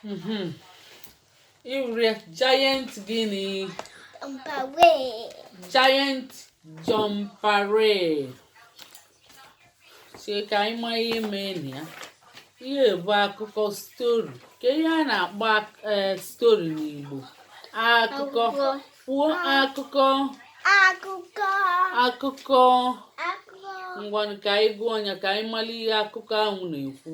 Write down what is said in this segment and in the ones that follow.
Mhm. Ịhụrụ giant gịnị? Jumperee. Giant Jumperee. Chee ka anyị ma ihe mee na ya. Ihe bụ akụkọ story. Kee ihe a na-akpọ ak- eh, story n'Igbo. Akụkọ. Akụkọ. Kwuo akụkọ. Akụkọ. Akụkọ. Akụkọ. Ngwanụ ka anyị gụọ ya ka anyị mara ihe akụkọ ahụ na-ekwu.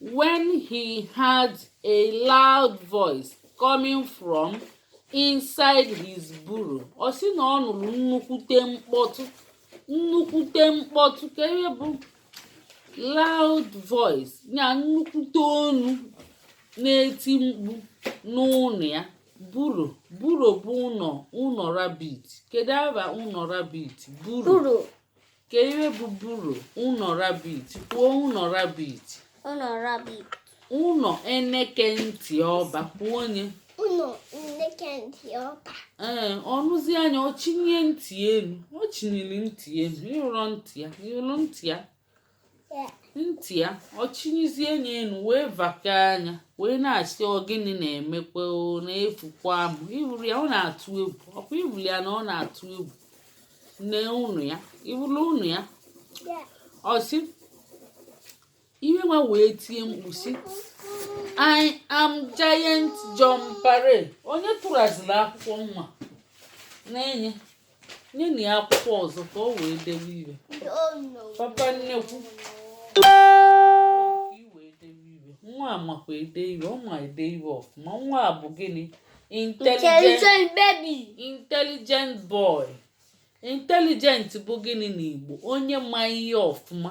when he heard a loud voice coming from inside his burrow ọ sị na ọ nụrụ nnukwute mkpọtụ nnukwute mkpọtụ kee ihe bụ loud voice ya nnukwute onu na-eti mkpu n'ụlọ ya burrow burrow bụ ụlọ ụlọ rabbit kedu aha ụlọ rabbit burrow Kee ihe bụ burrow ụnọ rabit kwuo ụnọ rabbit. Ụnọ rabbit. Ụnọ eneke ntị ọba kwuo ya. Ụnọ eneke ntị ọba. Ee ọ nụzia ya ọ chịnye ntị elu ọ chịnyere ntị elu ịhụrụ ntị ya ịhụrụ ntị ya. ntị ya ọ chịnyezie anya elu wee vaka anya wee na-asị ọ gịnị na-emekwa na efukwaa m ịhụrụ ya ọ na-atụ egwu ọkwa ịhụrụ ya na ọ na-atụ egwu nee ọnụ ya ịhụrụ ọnụ ya ọ sị ihe nwa wee tie mkpu sị I am giant Jumperee onye tụraziri akwụkwọ nwa na-enye nyenụ ya akwụkwọ ọzọ ka o wee dewe ihe papa nnekwu nwa a makwa ede ihe ọ ma ede ihe ọfụma nwa a bụ gịnị intelligent baby intelligent boy intelligent bụ gịnị n'Igbo onye ma ihe ọfụma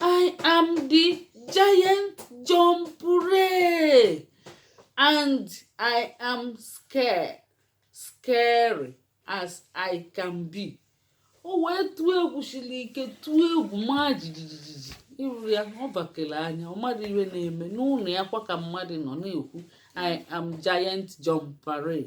I am the giant Jumperee and I am scared, scary as I can be. O wee tụọ egwu siri ike tụọ egwu maa jijijiji ịhụrụ ya ọ bakere anya ọ marọ ihe na-eme n'ụlọ ya kwa ka mmadụ nọ na-ekwu I am giant Jumperee.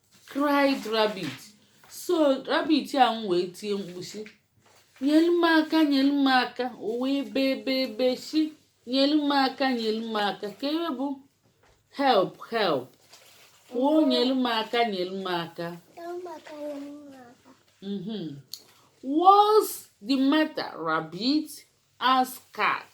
cried rabbit so rabbit ahụ wee tie mkpu sị nyelu m aka nyelu m aka o wee bee bee bee sị nyelu m aka nyelu m aka kee ihe bụ help help kwuo nyelu m aka nyelu m aka mhm. what's the matter rabbit asked cat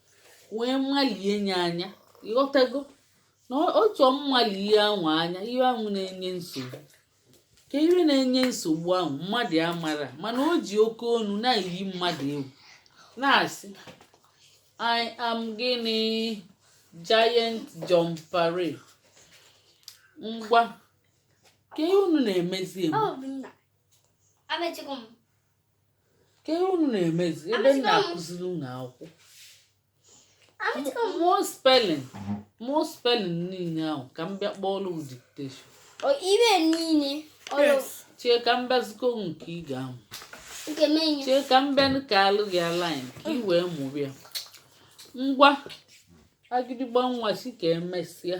wee malie nye anya ịghọtago na otu malie ihe ahụ anya ihe ahụ na-enye nsogbu ka ihe na-enye nsogbu a wụ mmadụ a maara mana o ji oke onu na-eyi mmadụ egwu na-asị I am gịnị Giant Jumperee ngwa kee ihe unu na-emezi kee ihe unu na-emezi ebe m na-akụziri unu akwụkwọ mụọ spelling niile ahụ ka m bịa kpọọrọ dictation O ibe niile chee ka m bịazikọ nke ị ga-amụ chee ka m bịa kaalụ gị line ka ị wee mụrụ ya ngwa agịdịgba nwa si ka emesịa